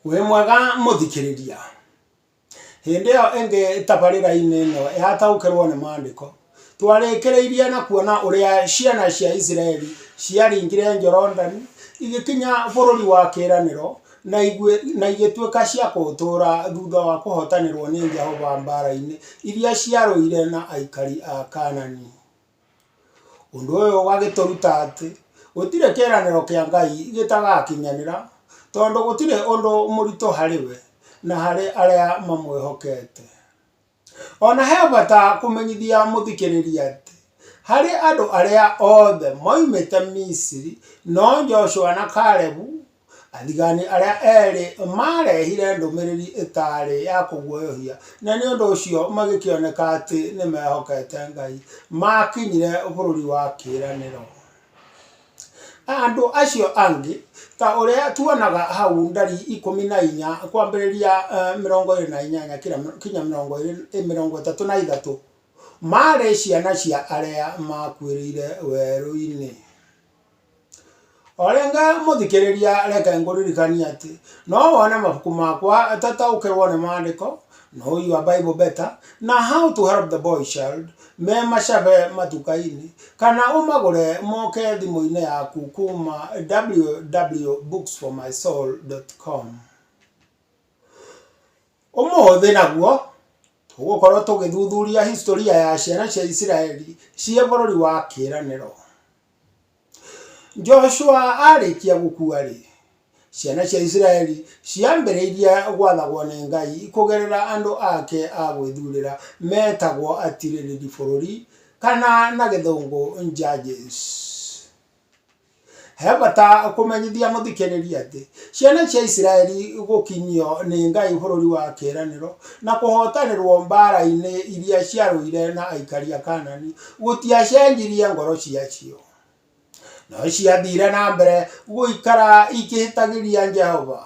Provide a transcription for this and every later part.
Wĩ mwega mũthikĩrĩria? Hĩndĩ ĩyo ĩngĩ tabarĩra-inĩ ĩno ya taũkĩrwo nĩ maandĩko, twarĩkĩrĩirie na kuona ũrĩa ciana cia Isiraeli ciaringire Jorodani igĩkinya bũrũri wa kĩĩranĩro na igĩtuĩka cia kũũtũũra thutha wa kũhootanĩrwo nĩ Jehova mbara-inĩ iria ciarũire na aikari a Kanaani. Ũndũ ũyũ ũgagĩtũruta atĩ gũtirĩ kĩĩranĩro kĩa Ngai gĩtagakinyanĩra tondũ gũtirĩ ũndũ mũritũ harĩ we na harĩ arĩa mamwĩhokete. Ona he bata kũmenyithia mũthikĩrĩria atĩ harĩ andũ arĩa othe moimĩte Misiri no Joshua na Kalebu Athigani arĩa erĩ maarehire ndũmĩrĩri ĩtaarĩ ya kũguoyohia, na nĩ ũndũ ũcio magĩkĩoneka atĩ nĩ meehokete Ngai. Maakinyire Bũrũri wa Kĩĩranĩro. Andũ acio angĩ, ta ũrĩa tuonaga hau Ndari ikũmi na inya kwambĩrĩria mĩrongo ĩĩrĩ na inyanya kinya mĩrongo ĩtatũ na ithatũ, maarĩ ciana cia arĩa maakuĩrĩire werũ-inĩ. O rĩngĩ mũthikĩrĩria reke ngũririkanie atĩ no wone mabuku makwa ta Taũkĩrwo nĩ Maandĩko, Know Your Bible Better, na How to Help the Boy Child me macabe matuka-inĩ, kana ũmagũre moke thimũ-inĩ yaku kuuma www.booksformysoul.com. Ũmũthĩ naguo Tũgũkorũo tũgĩthuthuria historĩ ya ciana cia Isiraeli cia bũrũri wa kĩĩranĩro. Joshua aarĩkia gũkua-rĩ, ciana cia Isiraeli ciambĩrĩirie gwathagwo nĩ Ngai kũgerera andũ ake a gwĩthuurĩra metagwo atiirĩrĩri bũrũri, kana na Gĩthũngũ judges. He bata kũmenyithia mũthikĩrĩria atĩ ciana cia Isiraeli gũkinyio nĩ Ngai bũrũri wa kĩĩranĩro na kũhootanĩrwo mbaara-inĩ iria ciarũire na aikari a Kanani gũtiacenjirie ngoro ciacio. No ciathiire na mbere gũikara ikĩhĩtagĩria Jehova.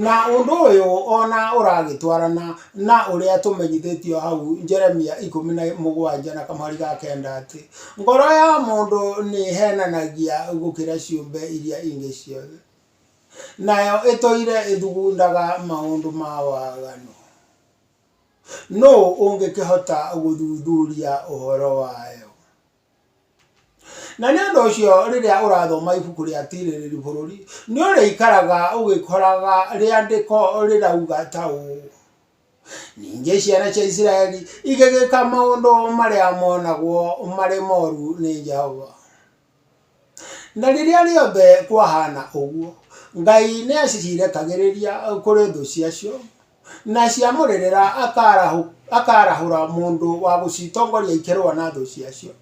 Na ũndũ ũyũ o na ũragĩtwarana na ũrĩa tũmenyithĩtio hau Jeremia ikũmi na mũgwanja na kamũhari ga kenda atĩ, Ngoro ya mũndũ nĩ ĩheenanagia gũkĩra ciũmbe iria ingĩ ciothe, nayo ĩtũire ĩthugundaga maũndũ ma waganu. Nũũ ũngĩkĩhota gũthuthuria ũhoro wayo? Na nĩ ũndũ ũcio rĩrĩa ũrathoma ibuku rĩa Tirĩrĩri Bũrũri, nĩ ũrĩikaraga ũgĩkoraga rĩandĩko rĩrauga ta ũũ, Ningĩ ciana cia Isiraeli igĩgĩka maũndũ marĩa moonagwo marĩ moru nĩ Jehova. Na rĩrĩa rĩothe kwahaana ũguo, Ngai nĩacirekagĩrĩria kũrĩ thũ ciacio, Na ciamũrĩrĩra akaarahũ, akaarahũra mũndũ wa gũcitongoria ikĩrũa na thũ ciacio,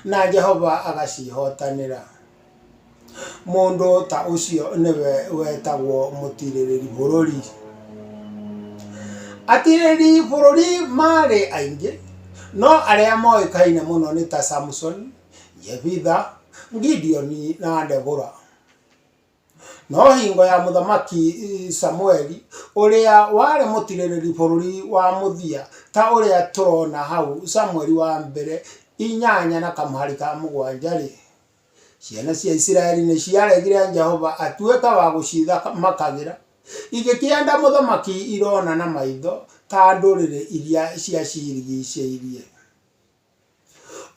na Jehova agacihotanĩra. Mũndũ ta ũcio nĩwe wetagwo mũtiirĩrĩri bũrũri. Atiirĩrĩri bũrũri maarĩ aingĩ, no arĩa moĩkaine mũno nĩ ta Samsoni, Jebitha, Gideoni na Debora. No hingo ya mũthamaki Samueli, ũrĩa warĩ mũtirĩrĩri bũrũri wa mũthia, ta ũrĩa tũrona hau Samueli wa mbere inyanya na kamũhari ka mũgwanja-rĩ, ciana cia Isiraeli nĩ ciaregire Jehova atuĩke wa gũcithamakagĩra, igĩkĩenda mũthamaki irona na maitho ta ndũrĩrĩ iria ciacirigiicĩirie.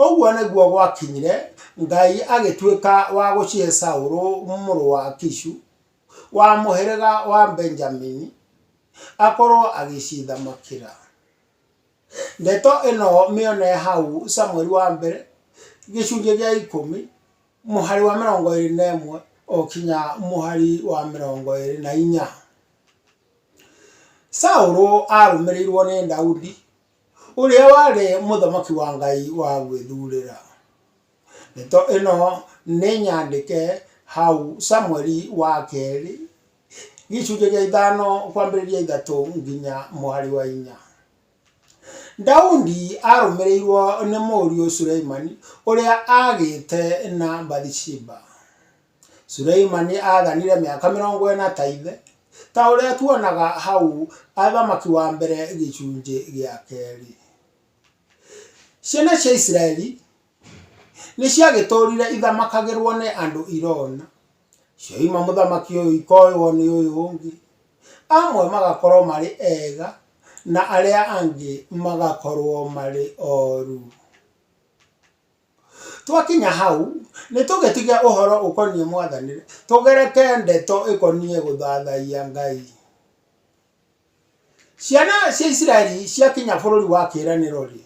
Ũguo nĩguo gwakinyire, Ngai agĩtuĩka wa gũcihe Saũlũ mũrũ wa Kishu, wa mũhĩrĩga wa Benjamini, akorwo agĩcithamakĩra. Ndeto ĩno mĩone hau Samũeli wa mbere, gĩcunjĩ gĩa ikũmi, mũhari wa mĩrongo ĩrĩ na ĩmwe, gũkinya mũhari wa mĩrongo ĩrĩ na inya. Saũlũ arũmĩrĩirwo nĩ Daudi. Ũrĩa warĩ mũthamaki wa Ngai wa gwĩthuurĩra. Ndeto ĩno nĩ nyandĩke hau Samũeli wa kerĩ, gĩcunjĩ gĩa ithano kwambĩrĩria ithatũ nginya mũhari wa inya. Daudi arũmĩrĩirwo nĩ mũriũ Suleimani ũrĩa agĩte na Bathisheba. Suleimani aathanire mĩaka mĩrongo ĩna ta ithe, ta ũrĩa tuonaga hau Athamaki wa Mbere gĩcunjĩ gĩa kerĩ. Ciana cia Isiraeli nĩ ciagĩtũũrire ithamakagĩrũo nĩ andũ irona, cioima mũthamaki ũyũ ikoywo nĩ ũyũ ũngĩ, amwe magakorũo marĩ ega na arĩa angĩ magakorũo marĩ oru. Twakinya hau, nĩ tũgĩtiga ũhoro ũkoniĩ Mwathani tũgereke ndeto ikoniĩ gũthathaiya Ngai. Ciana cia Isiraeli ciakinya bũrũri wa kĩĩranĩro-rĩ,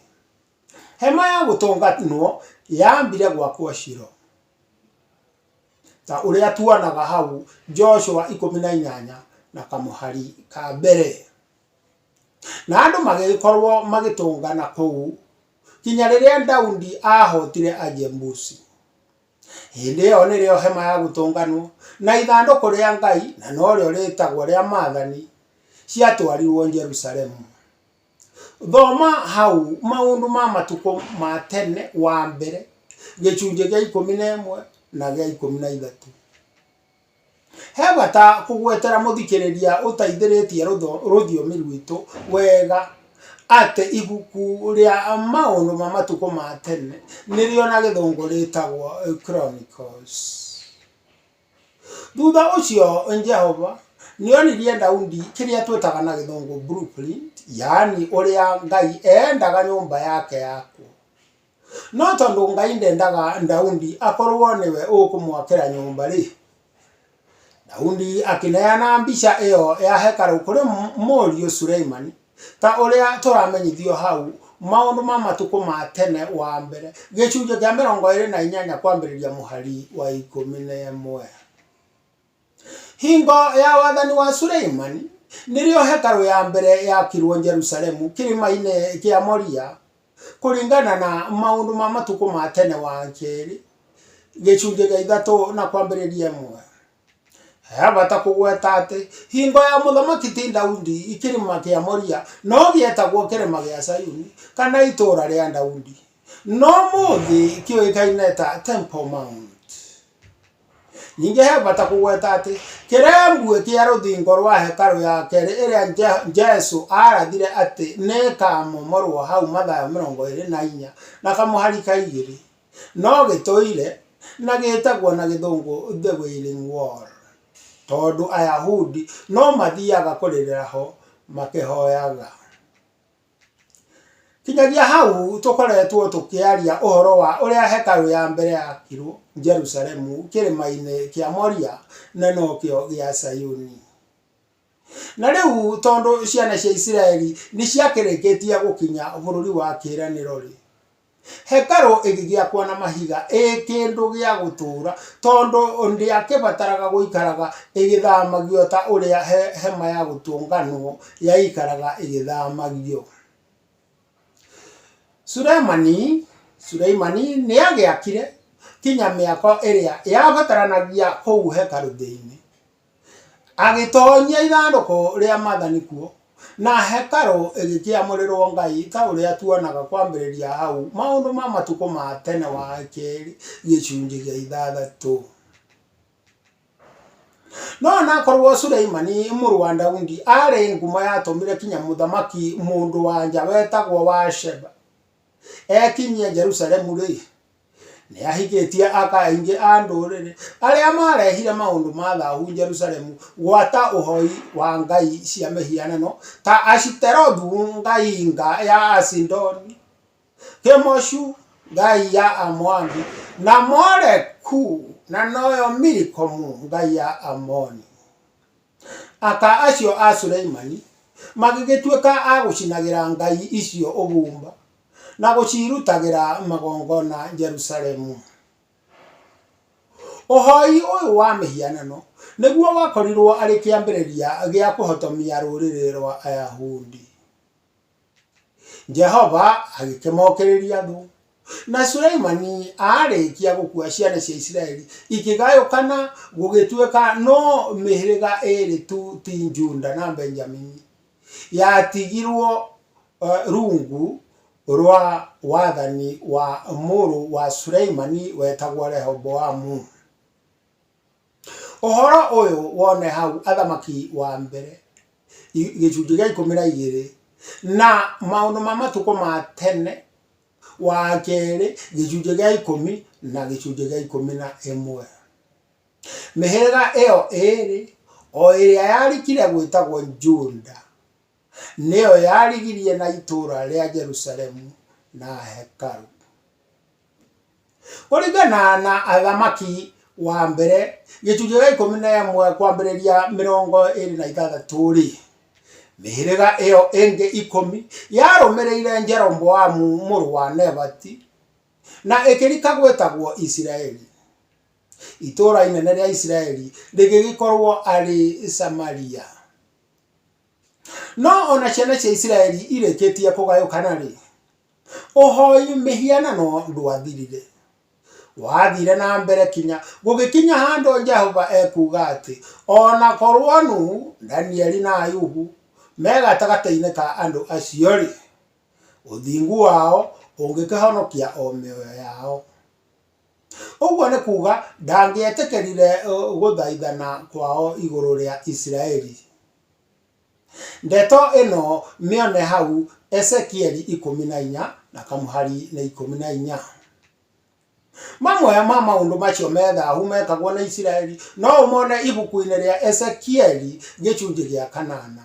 hema ya gũtũnganwo yaambire gwakwo Shilo. Ta ũrĩa tuonaga hau Joshua ikũmi na inyanya na kamũhari ka mbere. Na andũ magĩgĩkorwo magĩtũngana kũu. nginya rĩrĩa Daudi aahootire Ajebusi. Hĩndĩ ĩyo nĩrĩo hema ya gũtũnganwo na ithandũkũ rĩa Ngai na norĩo rĩtagwo rĩa maathani ciatwarirwo Jerusalemu. Thoma hau maũndũ ma matukũ ma tene wa mbere gĩcunjĩ gĩa ikũmi na ĩmwe na gĩa ikũmi na ithatũ. He bata kũgwetera mũthikĩrĩria ũtaithĩrĩtie rũthiomi rwitũ wega atĩ ibuku rĩa maũndũ ma matukũ ma tene nĩrĩo na gĩthũngũ rĩtagwo Chronicles. Thutha ũcio Jehova nĩ onirie Daudi kĩrĩa twĩtaga na gĩthũngũ blue print yaani ũrĩa Ngai endaga nyũmba yake yakwo. No tondũ Ngai ndendaga Daudi akorũo nĩwe ũkũmwakĩra nyũmba-rĩ, Daudi akĩneana mbica ĩyo ya hekarũ kũrĩ mũriũ Suleimani. Ta ũrĩa tũramenyithio hau, Maũndũ ma Matukũ ma Tene wa Mbere, gĩcunjĩ kĩa mĩrongo ĩĩrĩ na inyanya kwambĩrĩria mũhari wa ikũmi na ĩmwe. Hingo ya wathani wa Suleimani nĩrĩo hekarũ ya mbere yakirwo Jerusalemu kĩrĩma-inĩ kĩa Moria kũringana na maũndũ ma matukũ ma tene wa kerĩ gĩcunjĩ gĩa ithatũ na kwambĩrĩria ĩmwe. He bata kũgweta atĩ hingo ya mũthamaki ti Daudi kĩrĩma kĩa Moria no gĩetagwo kĩrĩma gĩa Sayuni kana itũũra rĩa Daudi no mũthĩ kĩũĩkaine ta Temple Mount. Ningĩ he bata kũgweta atĩ kĩrembwe kĩa rũthingo rwa hekarũ ya kerĩ ĩrĩa Je- Jesu aarathire atĩ nĩ ĩkaamomorwo hau Mathayo mĩrongo ĩrĩ na inya na kamũhari ka igĩrĩ, no gĩtũire na gĩtagwo na Gĩthũngũ The Wailing Wall, tondũ Ayahudi no mathiaga kũrĩrĩra ho makĩhoyaga. Kinyagia hau tũkoretwo tũkĩaria ũhoro wa ũrĩa hekarũ ya mbere yakirũo Jerusalemu Kĩrĩma-inĩ kĩa Moria, na nokĩo gĩa Zayuni. Na rĩu tondũ ciana cia Isiraeli nĩ ciakĩrĩkĩtie gũkinya Bũrũri wa Kĩĩranĩro-rĩ, Hekarũ ĩgĩgĩakwo na mahiga ĩ kĩndũ gĩa gũtũũra, tondũ ndĩakĩbataraga gũikaraga ĩgĩthamagio ta ũrĩa hema ya gũtũnganwo yaikaraga ĩgĩthamagio. Sulemani, Suleimani nĩ aagĩakire kinya mĩako ĩrĩa yabataranagia kũu hekarũ thĩinĩ. Agĩtoonyia ithandũkũ rĩa maathani kuo, na hekarũ ĩgĩkĩamũrĩrwo Ngai, ta ũrĩa tuonaga kwambĩrĩria hau, Maũndũ ma Matukũ ma Tene wa kerĩ gĩcunjĩ gĩa ithathatũ. No o na akorũo Suleimani mũrũ wa Daudi aarĩ ngumo yatũmire nginya mũthamaki mũndũ-wa-nja wetagwo Wa-sheba ekinyie Jerusalemu-rĩ, Nĩ ahithĩtie aka aingĩ a ndũrĩrĩ arĩa maarehire maũndũ ma thahu Jerusalemu gwata ũhoi wa ngai cia mĩhianano ta Ashiterothu ngai nga ya Asidoni, Kemoshu ngai ya Amoabi, na Moleku na noyo Milikomu ngai ya Amoni. Ata acio a Suleimani magĩgĩtuĩka a gũcinagĩra ngai icio ũbumba na gũciirutagĩra magongona Jerusalemu. Ũhoi ũyũ wa mĩhianano nĩguo wakorirũo arĩ kĩambĩrĩria gĩa kũhotomia rũrĩrĩ rwa Ayahudi. Jehova agĩkĩmokĩrĩria andũ. Na Suleimani aarĩkia gũkua ciana cia Isiraeli ikĩgayũkana gũgĩtuĩka no mĩhĩrĩga ĩrĩ tu ti Juda na Benjamini yatigirwo uh, rungu rwa wathani wa mũrũ wa Suleimani wetagwo Rehoboamu. Ũhoro ũyũ wone hau athamaki wa mbere gĩcunjĩ gĩa ikũmi na igĩrĩ na maũndũ ma matukũ ma tene wa kerĩ gĩcunjĩ gĩa ikũmi na gĩcunjĩ gĩa ikũmi na ĩmwe. Mĩhĩrĩga ĩyo ĩrĩ o ĩrĩa yarikire gwĩtagwo Juda. Nĩyo yarigirie na itũũra rĩa Jerusalemu na hekarũ. Kũringana na Athamaki wa mbere gĩcunjĩ gĩa ikũmi na ĩmwe kwambĩrĩria mĩrongo ĩrĩ na ithathatũ-rĩ, mĩhĩrĩga ĩyo ĩngĩ ikũmi yarũmĩrĩire Jeroboamu mũrũ wa Nebati na ĩkĩrika gwĩtagwo Isiraeli. Itũũra inene rĩa Isiraeli rĩgĩgĩkorwo arĩ Samaria. No o na ciana cia Isiraeli irĩkĩtie kũgayũkana-rĩ, ũhoi mĩhianano ndwathirire. Wathiire na mbere kinya gũgĩkinya handũ Jehova ekuuga atĩ o na korwo Nuhu, Danieli na Ayubu me gatagatĩ-inĩ ka andũ acio-rĩ, ũthingu wao ũngĩkĩhonokia o mĩoyo yao. Ũguo nĩ kuuga, ndangĩetĩkĩrire gũthaithana kwao igũrũ rĩa Isiraeli. Ndeto ĩno mĩone hau Ezekieli ikũmi na inya na kamũhari nĩ ikũmi na inya. Mamwe ma maũndũ macio me thahu mekagwo nĩ Isiraeli no ũmone ibuku-inĩ rĩa Ezekieli gĩcunjĩ gĩa kanana.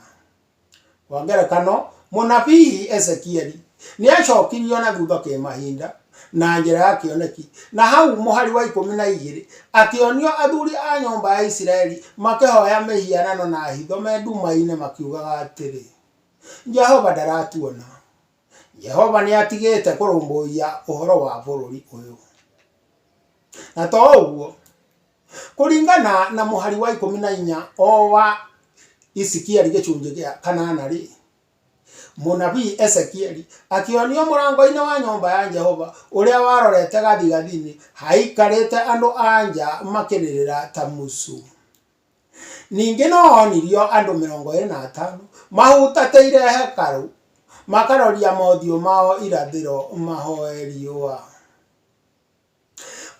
Kwa ngerekano, mũnabii Ezekieli nĩ aacokirio na thutha kĩmahinda na njĩra ya kĩoneki, na hau mũhari wa ikũmi na igĩrĩ akĩonio athuri a nyũmba ya Isiraeli makĩhoya mĩhianano na hitho me nduma-inĩ makiugaga atĩrĩ, Jehova ndaratuona. Jehova nĩ atigĩte kũrũmbũiya ũhoro wa bũrũri ũyũ. Na to ũguo, kũringana na mũhari wa ikũmi na inya o wa Isikieli gĩcunjĩ gĩa kanana rĩ mũnabii Ezekieli akĩonio mũrango-inĩ wa nyũmba ya Jehova ũrĩa warorete gathigathini haikarĩte andũ anja makĩrĩrĩra ta mũcu ningĩ no onirio andũ mĩrongo ĩrĩ na atano mahutatĩire hekarũ makaroria mothiũ mao irathĩro mahoe riũa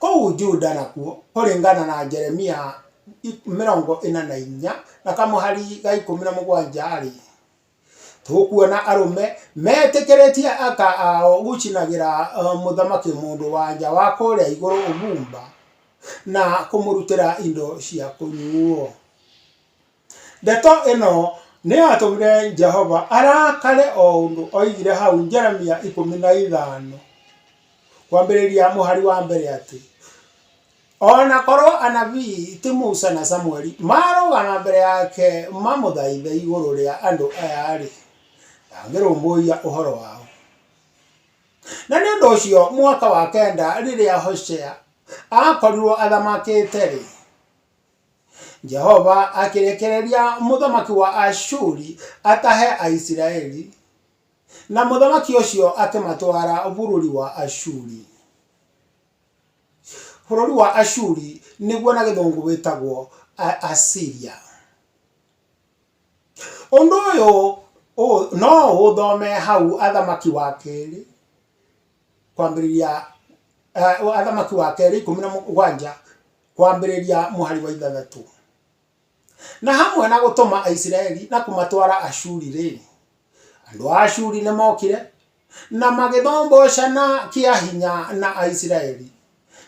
Kũu Juda nakuo, kũringana na Jeremia 44:17-rĩ, tũkuona arũme metĩkĩrĩtie aka ao gũcinagĩra mũthamaki mũndũ-wa-nja wa kũrĩa igũrũ ũbumba na kũmũrutĩra indo cia kũnyuuo. Ndeto ĩno nĩ yatũmire Jehova arakare o ũndũ oigire hau Jeremia ikũmi na ithano kwambĩrĩria mũhari wa mbere atĩ o na korwo anabii ti Musa na Samueli marũgama mbere yake mamũthaithe igũrũ rĩa andũ aya-rĩ, ndangĩrũmbũiya ũhoro wao. Na nĩ ũndũ ũcio mwaka wa kenda rĩrĩa Hoshea akorirwo athamakĩte-rĩ, jehova akĩrekereria mũthamaki wa ashuri atahe aisiraeli na mũthamaki ũcio akĩmatwara bũrũri wa ashuri bũrũri wa ashuri nĩguo na gĩthũngũ wĩtagwo A- asiria ũndũ ũyũ ũ- no ũthome hau athamaki wa kerĩ kwambĩrĩria, Athamaki wa Kerĩ ikũmi na mũgwanja kwambĩrĩria mũhari wa ithathatũ. Na hamwe na gũtũma Aisiraeli na kũmatwara Ashuri-rĩ, andũ a Ashuri nĩ mokire na magĩthombocana kĩa hinya na Aisiraeli.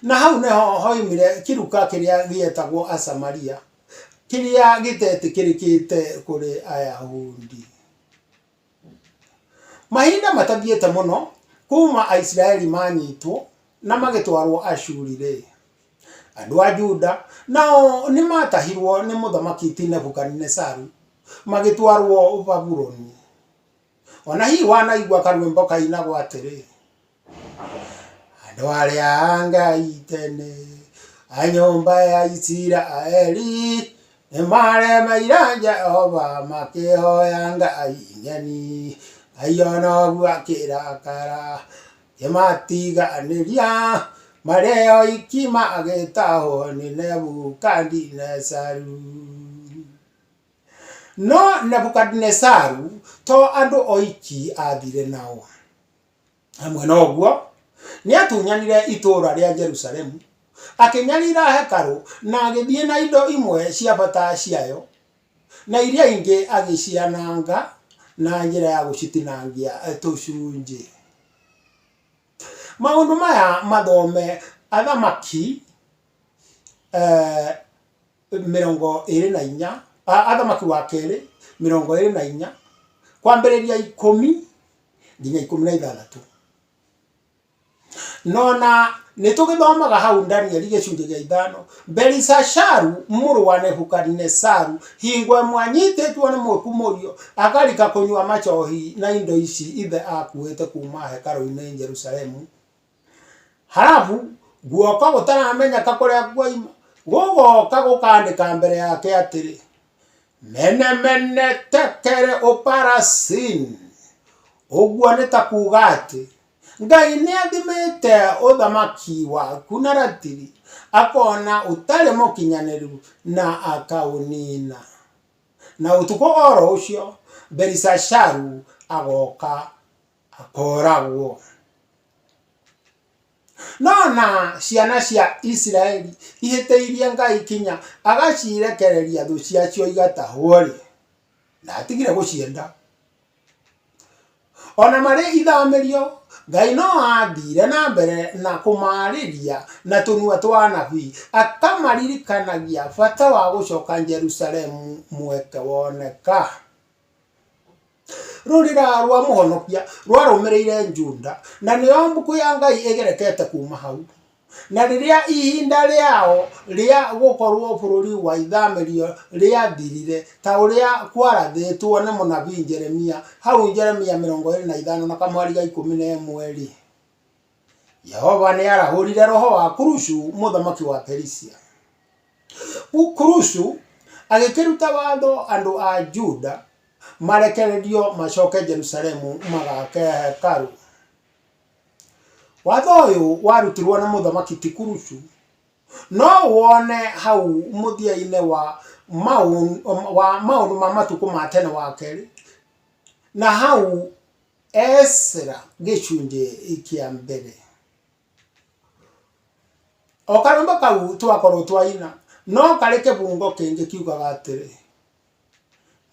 Na hau nĩho hoimire kĩruka kĩrĩa gĩetagwo Asamaria, kĩrĩa gĩtetĩkĩrĩkĩte kũrĩ Ayahudi. Mahinda matathiĩte mũno kuuma Aisiraeli maanyitwo na magĩtwarũo Ashuri-rĩ, andũ a Juda nao nĩ maatahirũo nĩ Mũthamaki ti Nebukanezaru magĩtwarũo Babuloni. O na hihi wanaigua karwĩmbo kainagwo atĩrĩ: Andũ arĩa a Ngai tene, a nyũmba ya Isiraeli, nĩmaremeire Jehova makĩhoya ngai ng'eni. Ngai o noguo akĩrakara akĩmatiganĩria marĩ oiki magĩtahwo nĩ Nebukadinezaru. No Nebukadinezaru to andũ oiki athire nao. Hamwe na ũguo, nĩatunyanire itũũra rĩa Jerusalemu, akĩnyarira hekarũ, na agĩthiĩ na indo imwe cia bata ciayo, na iria ingĩ agĩciananga na njĩra ya gũcitinangia tũcunjĩ. Maũndũ maya mathome Athamaki eh, mĩrongo ĩrĩ na inya Athamaki wa kerĩ mĩrongo ĩrĩ na inya kwambĩrĩria ikũmi nginya ikũmi na ithathatũ. Nona nĩ tũgĩthomaga hau Danieli gĩcunjĩ gĩa ithano, Belisasharu mũrũ wa Nebukadinesaru hingo ĩmwe anyitĩtwo nĩ mwĩku mũriũ akarika kũnyua macohi na indo ici ithe akuĩte kuma hekarũ-inĩ Jerusalemu Harabu guoko gũtaramenyeka kũrĩa kuoima gũgoka gũkandĩka mbere yake atĩrĩ mene mene tekere ũparasin ũguo nĩ ta kuga atĩ ngai nĩ athimĩte ũthamaki waku na ratiri akona ũtarĩ mũkinyanĩru na akaũnina na ũtukũ oro ũcio belisasharu agoka akooragwo. No na ciana cia Isiraeli ihĩtĩirie Ngai kinya agacirekereria thũ ciacio igatahwo-rĩ, ndatigire gũcienda. O na marĩ ithamĩrio, Ngai no aathiire na mbere na kũmaarĩria na tũnua twa anabii, akamaririkanagia bata wa gũcoka Jerusalemu mweke woneka. Rũrĩra rwa mũhonokia rwarũmĩrĩire Juda, na nĩo mbũkũ ya Ngai ĩgerekete kuuma hau. Na rĩrĩa ihinda rĩao rĩa gũkorwo bũrũri wa ithamĩrio rĩathirire, ta ũrĩa kwarathĩtwo nĩ mũnabii Jeremia, hau Jeremia mĩrongo ĩrĩ na ithano na kamweri ga ikũmi na ĩmwe-rĩ, Jehova nĩ arahũrire roho wa Kurushu mũthamaki wa Perisia. Kurushu agĩkĩruta watho andũ a Juda, marekererio macoke Jerusalemu magake hekarũ. Watho ũyũ warutirwo nĩ mũthamaki Tikurucu, no wone hau mũthia-inĩ wa maũndũ ma matukũ ma tene wa kerĩ, na hau Esra gĩcunjĩ kĩa mbere. O karũmbe kau twakorwo twaina, no karĩ kĩbungo kĩngĩ kiugaga atĩrĩ.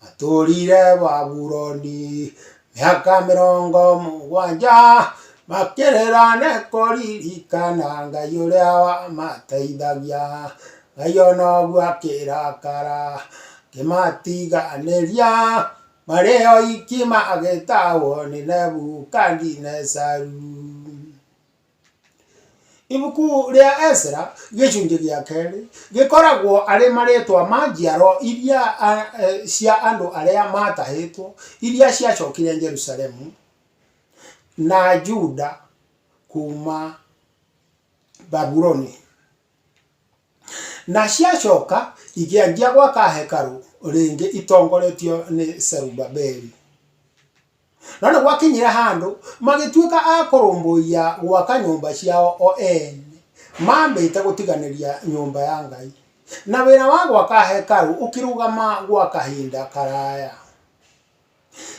Matũũrire Babuloni mĩaka mĩrongo mũgwanja makĩrĩra nĩ kũririkana Ngai ũrĩa wamateithagia. Ngai o noguo akĩrakara akĩmatiganĩria marĩ oiki magĩtahwo nĩ Nebukadinezaru. Ibuku rĩa Ezra gĩcunjĩ gĩa kerĩ gĩkoragwo arĩ marĩĩtwa ma njiaro iria a- e- cia andũ arĩa maatahĩtwo, iria ciacokire Jerusalemu na Juda kuuma Babuloni, na ciacoka ikĩanjia gwaka hekarũ rĩngĩ itongoretio nĩ Zerubabeli. Na nĩ gwakinyire handũ magĩtuĩka a kũrũmbũiya gwaka nyũmba ciao o ene, mambĩte gũtiganĩria nyũmba ya Ngai. Na wĩra wa gwaka hekarũ ũkĩrũgama gwa kahinda karaya.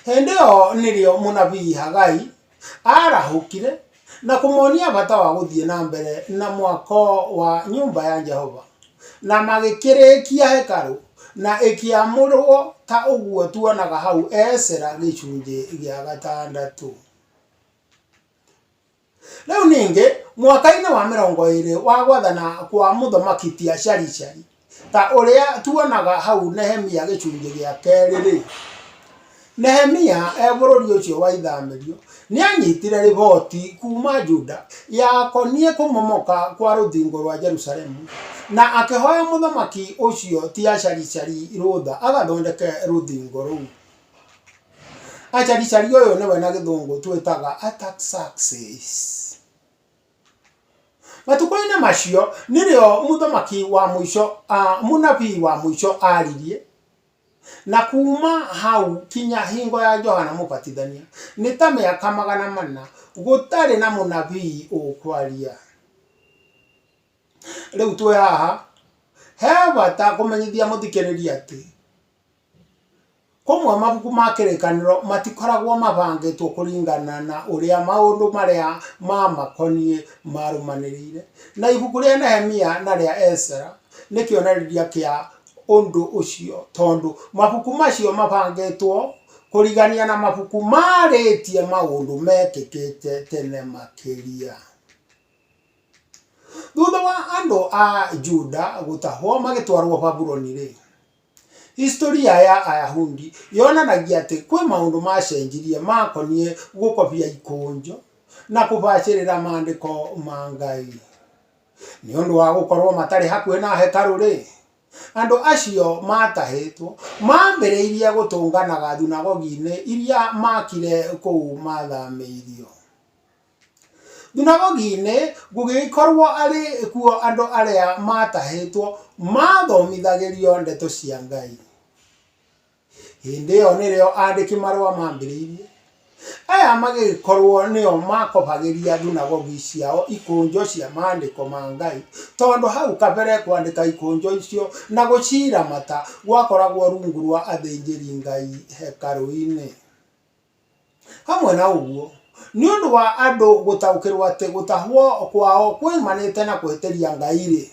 Hĩndĩ ĩyo nĩrĩo mũnabii Hagai aarahũkire. na kũmonia bata wa gũthiĩ na mbere na mwako wa nyũmba ya Jehova, na magĩkĩrĩkia hekarũ, na ĩkĩamũrwo ta ũguo tuonaga hau Esra gĩcunjĩ gĩa gatandatũ. Rĩu ningĩ, mwaka-inĩ wa mĩrongo ĩĩrĩ wa gwathana kwa mũthamaki Tia-Sharishari, Ta ũrĩa tuonaga hau Nehemia gĩcunjĩ gĩa kerĩ-rĩ, Nehemia e bũrũri ũcio wa ithamĩrio nĩ aanyitire riboti kuuma Juda yakoniĩ kũmomoka kwa rũthingo rwa Jerusalemu, na akĩhoya mũthamaki ũcio Tiasharishari rũtha agathondeke rũthingo rũu. Acarishari ũyũ nĩwe na Gĩthũngũ twĩtaga Artaxerxes. Matukũ-inĩ macio nĩrĩo mũthamaki wa mũico, mũnabii wa mũico aririe, na kuma hau kinya hingo ya Johana Mũbatithania nĩ ta mĩaka magana mana gũtarĩ na mũnabii ũkwaria. Rĩu twĩ haha he bata kũmenyithia mũthikĩrĩria atĩ... Kũmwe mabuku ma kĩrĩkanĩro matikoragwo mabangĩtwo kũringana na ũrĩa maũndũ marĩa maamakoniĩ maarũmanĩrĩire, na ibuku rĩa Nehemia na rĩa Esra nĩ kĩonereria kĩa ũndũ ũcio tondũ mabuku macio mabangĩtwo kũrigania na mabuku maarĩtie maũndũ meekĩkĩte tene makĩria. Thutha wa andũ a Juda gũtahwo magĩtwarũo Babuloni-rĩ, Historĩ ya Ayahudi yonanagia atĩ kwĩ maũndũ maacenjirie maakoniĩ gũkobia ikũnjo na kũbacĩrĩra Maandĩko ma Ngai. Nĩ ũndũ wa gũkorũo matarĩ hakuhĩ na hekarũ-rĩ, andũ acio maatahĩtwo maambĩrĩirie gũtũnganaga thunagogi-inĩ iria maakire kũu maathamĩirio. Thunagogi-inĩ gũgĩgĩkorwo arĩ kuo andũ arĩa maatahĩtwo maathomithagĩrio ndeto cia Ngai. Hĩndĩ ĩyo nĩrĩo aandĩki marũa maambĩrĩirie. Aya magĩgĩkorwo nĩo maakobagĩria thunagogi ciao ikũnjo cia maandĩko ma Ngai, tondũ hau kabere kwandĩka ikũnjo icio na gũciramata gwakoragwo rungu rwa athĩnjĩri Ngai hekarũ-inĩ. Hamwe na ũguo, nĩ ũndũ wa andũ gũtaũkĩrũo atĩ gũtahwo kwao kuoimanĩte na kũhĩtĩria Ngai-rĩ,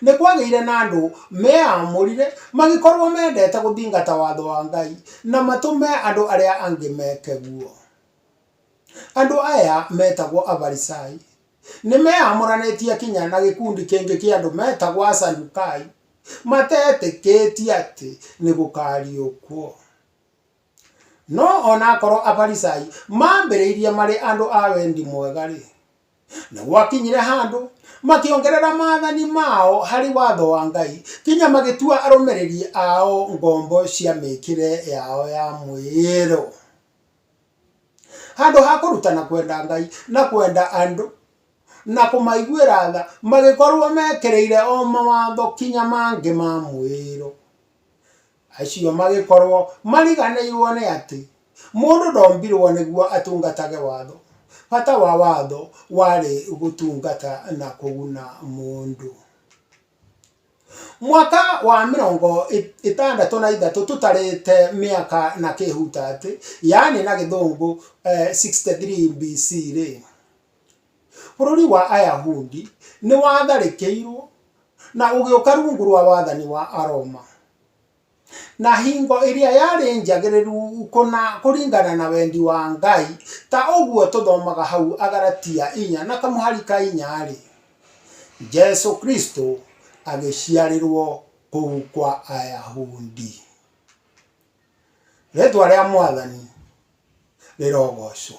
nĩ kwagĩire na andũ meamũrire mangĩkorũo mendete gũthingata watho wa Ngai na matũme andũ arĩa angĩ meke ũguo. Andũ aya metagwo Afarisai nĩ meeyamũranĩtie kinya na gĩkundi kĩngĩ kĩa andũ metagwo Asadukai matetĩkĩtie atĩ nĩ gũkaariũkio. No o na akorwo Afarisai maambĩrĩirie marĩ andũ a wendi mwega-rĩ, nĩ gwakinyire handũ makĩongerera maathani mao harĩ watho wa Ngai kinya magĩtua arũmĩrĩri ao ngombo cia mĩĩkĩre yao ya mwĩĩro. Handũ ha kũrutana kwenda Ngai na kwenda andũ na kũmaiguĩra tha, magĩkorũo mekĩrĩire o mawatho kinya mangĩ ma mwĩĩro. Acio magĩkorũo mariganĩirũo nĩ atĩ mũndũ ndombirũo nĩguo atungatage watho. Bata wa watho warĩ gũtungata na kũguna mũndũ. Mwaka wa mĩrongo ĩtandatũ na ithatũ tũtarĩte mĩaka na kĩhutatĩ, yaani na Gĩthũngũ 63 BC-rĩ, Bũrũri wa Ayahudi nĩ watharĩkĩirũo na ũgĩũka rungu rwa wathani wa Aroma, na hingo ĩrĩa yarĩ njagĩrĩru kũna kũringana na wendi wa Ngai, ta ũguo tũthomaga hau Agalatia inya na kamũhari ka inya-rĩ, Jesu Kristo agĩciarĩrũo kũu kwa Ayahudi. Rĩtwa rĩa Mwathani rĩrogocwo.